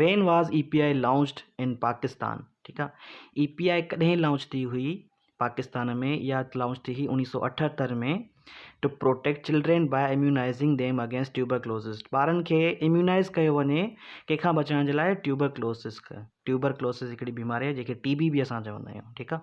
Van was A P I launched in Pakistan ٺيڪ آ A P I ڪڏهن launch ٿي هئي پاڪستان ۾ اها لانچ ٿي هئي اوڻيهه سؤ اٺهتر ۾ to protect children by اميونائزنگ them against tuberculosis ٻارن کي اميونائز ڪيو وڃي ڪنهن کان بچائڻ جي لاء ٽيوبر ڪلوسز ٽيوبر ڪلوسز هڪڙي بيماري جنهنکي ٽي بي به اسان چوندا آهيون ٺيڪ آ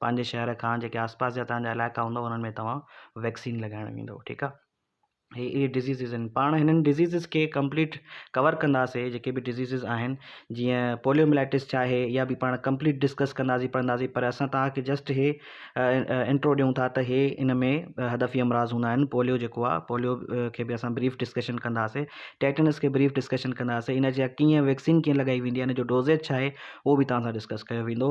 پنهنجي شهر کان جيڪي آس پاس جا تنهنجا علائقا هوندا انهن ۾ توهان ويڪسين لڳائڻ ويندو ٺيڪ آ هي اهي ڊزيزز آهن پاڻ هنن ڊزيزز کي ڪمپليٽ ڪور ڪنداسي جيڪي به ڊزيزز آهن جيئن پوليو ملائٽس چاهي يا به پاڻ ڪمپليٽ ڊسڪس ڪنداسي پڙهنداسي پر اسان توهانکي جسٽ هي انٽرو ڏيون ٿا ته هي ان ۾ هدفي امراض هوندا آهن پوليو جيڪو آ پوليو کي به اسان بريف ڊسڪشن ڪنداسي ٽيٽنس کي بريف ڊسڪشن ڪنداسي ان جا ڪيئن ويڪسين ڪيئن لڳائي ويندي آهي ان جو ڊوزيج چاهي هو به توهان سان ڊسڪس ڪيو ويندو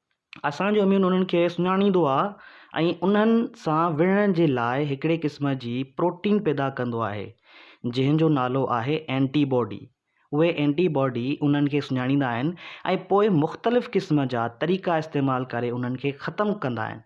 اسان جو اميون انهن کي سڃاڻيندو آهي ۽ انهن سان وڙهڻ جي لاء هڪڙي قسم جي پروٽين پيدا ڪندو آهي جنهن جو نالو آهي اينٽي باڊي. اهي اينٽي باڊي انهن کي سڃاڻيندا آهن ۽ پوء مختلف قسم جا طريقا استعمال ڪري انهن کي ختم ڪندا آهن.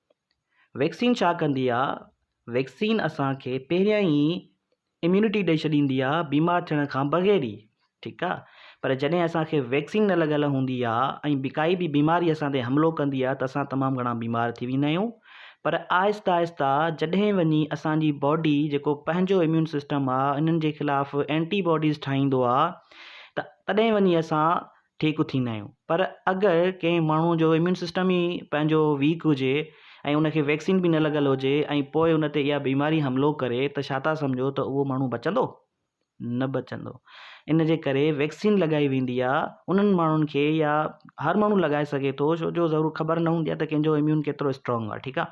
ويڪسين ڇا ڪندي آ؟ ويڪسين اسان کي پهريان ئي اميونٽي ڏئي ڇڏيندي آ بيمار ٿيڻ کان بغير ئي ٺيڪ آ پر جڏهن اسان کي ويڪسين نه لڳل هوندي آ ۽ به ڪائي به بيماري اسان تي حملو ڪندي آ ته اسان تمام گهڻا بيمار ٿي ويندا آهيون پر آهسته آهسته جڏهن وڃي اسان جي باڊي جيڪو پنهنجو اميون سسٽم آ انهن جي خلاف اينٽي باڊيز ٺاهيندو آ ته تڏهن وڃي اسان ٺيڪ ٿيندا آهيون پر اگر ڪنهن ماڻهو جو اميون سسٽم ئي پنهنجو ويڪ هجي ۽ ان کي ويڪسين به نه لڳل هجي ۽ پوء ان تي اها بيماري حملو ڪري ته ڇا ٿا سمجهو ته اهو ماڻهو بچندو؟ نه بچندو ان جي ڪري ويڪسين لڳائي ويندي آهي انهن ماڻهن کي يا هر ماڻهو لڳائي سگهي ٿو ڇو جو ضرور خبر نه هوندي آهي ته ڪنهن جو اميون ڪيترو اسٽرانگ آهي ٺيڪ آهي.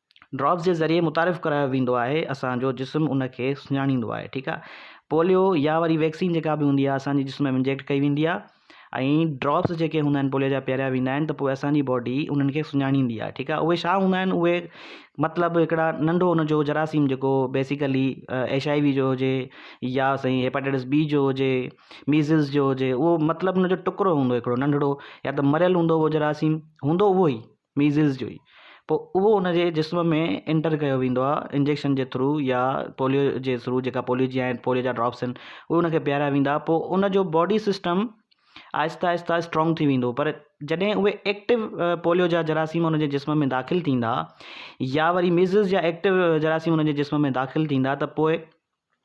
ڊراپس جي ذريعي متعارف ڪرايو ويندو آهي اسان جو جسم ان کي سڃاڻيندو آهي ٺيڪ آهي پوليو يا وري ويڪسين جيڪا به هوندي آهي اسان جي جسم ۾ انجيڪٽ ڪئي ويندي آهي ۽ ڊراپس جيڪي هوندا آهن پوليو جا پياريا ويندا آهن ته پوء اسان جي باڊي انهن کي سڃاڻيندي آهي ٺيڪ آهي اهي ڇا هوندا آهن اهي مطلب هڪڙا ننڍو ان جو جراثيم جيڪو بيسيڪلي ايش آء وي جو هجي يا سائين هيپاٽائٽس بي جو هجي ميزلس جو هجي اهو مطلب ان جو ٽکرو هوندو هڪڙو ننڍڙو يا ته مريل هوندو هو جراثيم هوندو اهو ئي ميزلز جو ئي پوء اهو ان جي جسم ۾ انٽر ڪيو ويندو آهي انجيڪشن جي ٿرو يا پوليو جي ٿرو جيڪا پوليو جي آهن پوليو جا ڊراپس آهن اهي ان کي پيارايا ويندا پوء ان جو باڊي سسٽم آهستي آهستي اسٽرانگ ٿي ويندو پر جڏهن اهي ايڪٽو پوليو جا جراثيم ان جي جسم ۾ داخل ٿيندا يا وري ميزلز جا ايڪٽو جراثيم ان جي جسم ۾ داخل ٿيندا ته پوء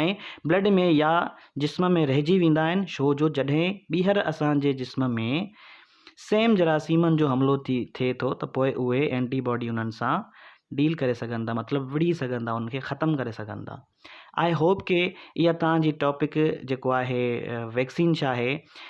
۽ بلڊ ۾ يا جسم ۾ رهجي ويندا آهن ڇو جو جڏهن ٻيهر اسان جي جسم ۾ سيم جراثيمن جو حملو ٿئي ٿو ته پوء اهي اينٽي باڊي انهن سان ڊيل ڪري سگهن ٿا مطلب وڙهي سگهن ٿا انهن کي ختم ڪري سگهن ٿا آئي هوپ ڪي اها توهان جي ٽاپڪ جيڪو آهي ويڪسين ڇا آهي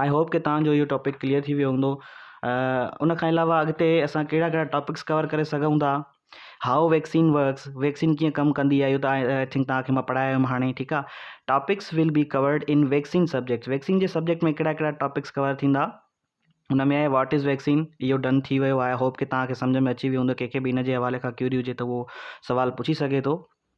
آئي هوپ ڪي توهان جو اهو ٽاپڪ ڪليئر ٿي ويو هوندو. ان کان علاوه اڳتي اسان ڪهڙا ڪهڙا ٽاپڪس ڪور ڪري سگهون ٿا. هائو ويڪسين ورڪس ويڪسين ڪيئن ڪم ڪندي آهي اهو ته آئي ٿنڪ توهان کي مان پڙهائي آيو هيم هاڻي ٺيڪ آهي. Topics will be covered in vaccine subjects vaccine جي سبجيڪٽ ۾ ڪهڙا ڪهڙا ٽاپڪس ڪور ٿيندا. ان ۾ آهي واٽ از ويڪسين اهو ڊن ٿي ويو آئي هوپ ڪي توهان کي سمجهه ۾ اچي ويو هوندو ڪنهن کي به ان جي حوالي کان ڪيوري هجي ته اهو سوال پڇي سگهي ٿو.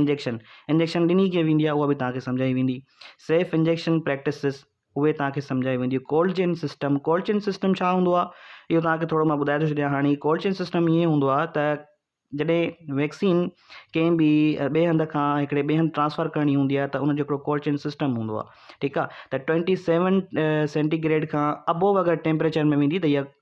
انجيڪشن، انجيڪشن ڏني ڪيئن ويندي آهي اها به توهان کي سمجهائي ويندي. سيف انجيڪشن پريڪٽسز، اهي توهان کي سمجهائي وينديون. Cold chain system, cold chain system ڇا هوندو آهي اهو توهان کي ٿورو مان ٻڌائي ٿو ڇڏيان هاڻي. ڪولڊ چين سسٽم ائين هوندو آهي ته جڏهن ويڪسين ڪنهن به ٻئي هنڌ کان هڪڙي ٻئي هنڌ ٽرانسفر ڪرڻي هوندي آهي ته ان جو هڪڙو ڪولڊ چين سسٽم هوندو آهي ٺيڪ آهي ته ٽوئنٽي سيون سينٽي گريڊ کان ابوو اگر ٽيمپريچر ۾ ويندي ته اها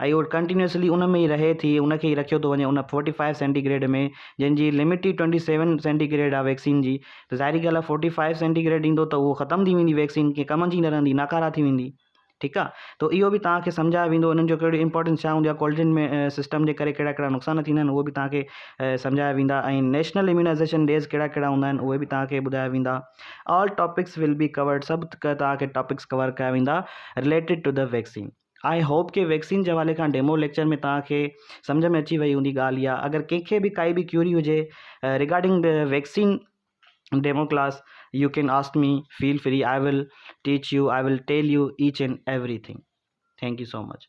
اهي هو ڪنٽينيوسلي ان ۾ ئي رهي ٿي ان کي ئي رکيو ٿو وڃي ان فورٽي فائيو سينٽي گريڊ ۾ جنهن جي لمٽ ئي ٽوئنٽي سيون سينٽي گريڊ آهي ويڪسين جي ته ظاهري ڳالهه آهي فورٽي فائيو سينٽي گريڊ ايندو ته اهو ختم ٿي ويندي ويڪسين ڪي ڪم جي نه رهندي ناڪاره ٿي ويندي ٺيڪ آهي ته اهو به توهان کي سمجهايو ويندو انهن جو ڪهڙو امپورٽنس ڇا هوندي آهي ڪولڊ چين ۾ سسٽم جي ڪري ڪهڙا ڪهڙا نقصان ٿيندا آهن اهو به توهان کي سمجهايا ويندا ۽ نيشنل اميونائزيشن ڊيز ڪهڙا ڪهڙا هوندا آهن اهي به توهان کي ٻڌايا ويندا all topics will be covered سڀ توهان کي ٽاپڪس ڪور ڪيا ويندا related to the vaccine I hope ڪي ويڪسين جي حوالي کان ڊيمو ليڪچر ۾ توهان کي سمجهه ۾ اچي وئي هوندي ڳالهه اها اگر ڪنهن کي به ڪائي به ڪيوري هجي regarding the vaccine demo class you can ask me feel free I will teach you I will tell you each and everything thank you so much